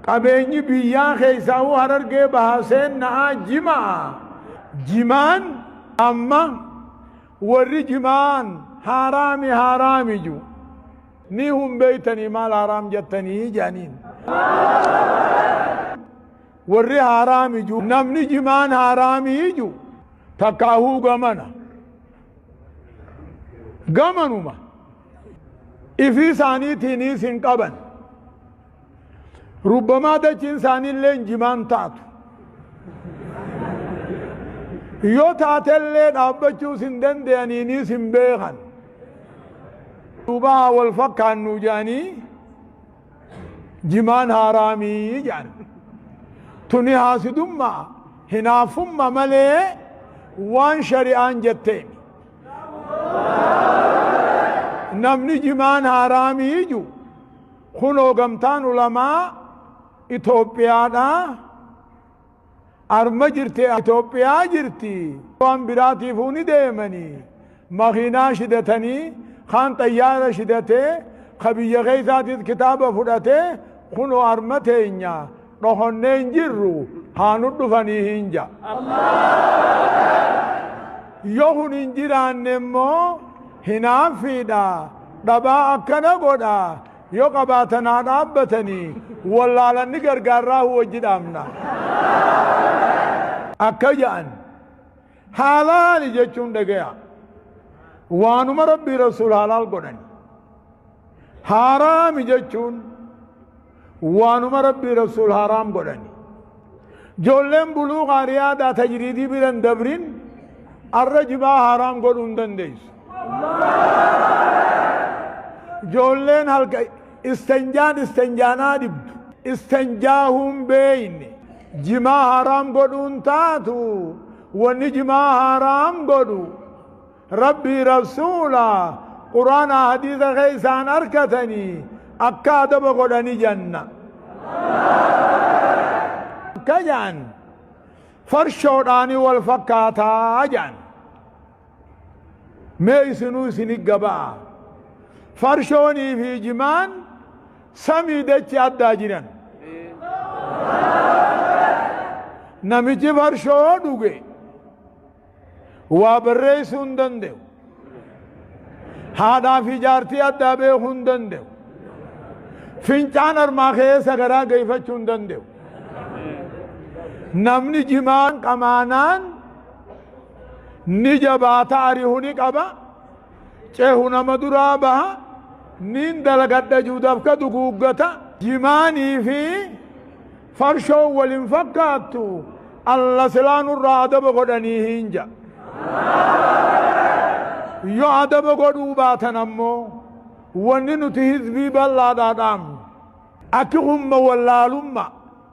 Qabeenyi biyyaa keessaawuu harargee bahaa seenna'aa jimaa jimaan amma warri jimaan haaraami haaraami ju ni hun beeytanii maal haaraam jattanii jaaniin warri haaraami ju namni jimaan haaraami ju takkaahuu gamana gamanuma ifii isaaniitiiniis hin qaban rubbamaa dachiin isaaniillee jimaan taatu yoo taatellee dhaabbachuus hin danda'aniiniis hin beekan duubaa wal fakkaannu jedhanii jimaan haaraamii jedhan tuni haasidummaa hinaaffumma malee waan shari'aan jetteemi namni jimaan haaraamii iju kunoo gamtaan ulamaa Itoophiyaadha. Arma jirti Itoophiyaa jirti. Waan biraatiifuu ni deemanii. Makiinaa shidatanii kaan xayyaara shidatee ka biyya keessaatis kitaaba fudhatee kunoo arma teenya. dhohonnee hin jirru haa nu dhufanii hin ja. Yoo kun hin jiraanne immoo hinaaffiidha dhabaa akkana godha yoo qabaatan haa dhaabbatanii wallaalanni gargaarraa wajji dhaabna. Akka ja'an Haalaali jechuun dhagaya. Waanuma Rabbii Rasuul haalaal godhani. Haaraami jechuun waanuma Rabbii Rasuul haaraam godhani. Joolleen buluuqaa riyaadaa tajriidii biran dabrin arra jibaa haaraam godhuu hin dandeessu. Joolleen halka Istanjaan istanjaa naa dhibdu istanjaahuun beeyne jimaa haraam godhuun taatu wanni jimaa haraam godhu rabbii rasuula quraanaa hadiisa keeysaan arkatanii akka adaba godhani janna akka jaan farshoodhaani wal fakkaataa jaan Mee isinuu isini gaba'a. Farshoonii fi jimaan samii dachi addaa jiran. Namichi farshoo dhuge waa barreessuu hin danda'u. Haadhaa fi jaartii addaa beekuu hin danda'u. Fincaan harmaa keessa garaa geeffachuu hin danda'u. Namni jimaan qamaanaan ni jabaata arihu ni qaba cehu nama duraa baha nin dalagadha juudafka duguuggata jimaanii fi farshoon walin fakkaattu alla silaa nurraa adaba godhanii hin ja yo adaba godhuu baatan ammoo wanni nuti hizbii bal'aadhaa dhaamnu akki humma wallaalummaa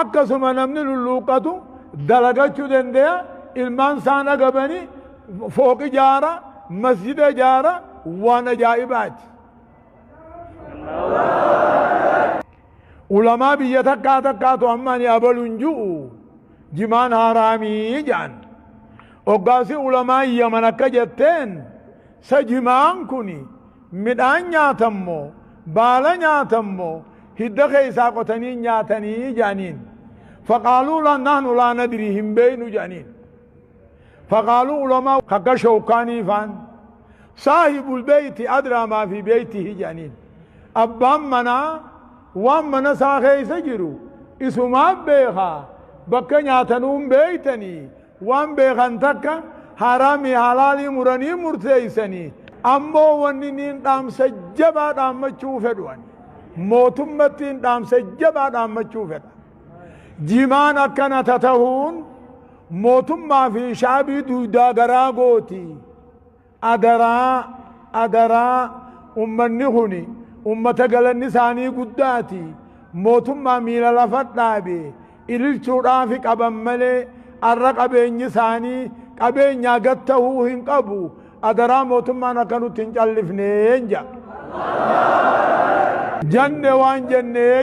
akkasuma namni lulluuqqatu dalagachuu danda'a ilmaan isaan agabani fooqi jaara masjida jaara waan ajaa'ibaati. Ulamaa biyya takkaa takkaatu amma ani abalu hin jiru jimaan haaraamii jedhan. Oggaasi ulamaa yaman akka jetteen sa jimaan kuni Midhaan nyaatan moo? Baala nyaatan moo? Hidda keessaa qotanii nyaatanii? jedhaniin. Faqaaluu la- nahnu laa nadrii hin beeynu jedhaniin. Faqaaluu ulamaa kakka shawkaanii faan saahibul beeyti adraa maa fi beeytihi jedhaniin. Abbaan manaa waan mana isaa keessa jiru isumaa beekaa bakka nyaatanuun beeytanii Waan beekan takka haraamii halaalii muranii murteeysanii ammoo wanni niin dhaamsa jabaa dhaammachuu fedhu ani mootummattiin dhaamsa jabaa dhaammachuu fedha jimaan akkana tatahuun mootummaa fi shaabii duydaa garaa gootii Adaraa adaraa ummanni kuni ummata galanni isaanii guddaati mootummaa miila lafa dhaabe ililchuudhaafi qaban malee arra qabeenyi isaanii qabeenyaa gad tahuu hin qabu adaraa mootummaan akka nutti hin callifneen ja janne waan jennee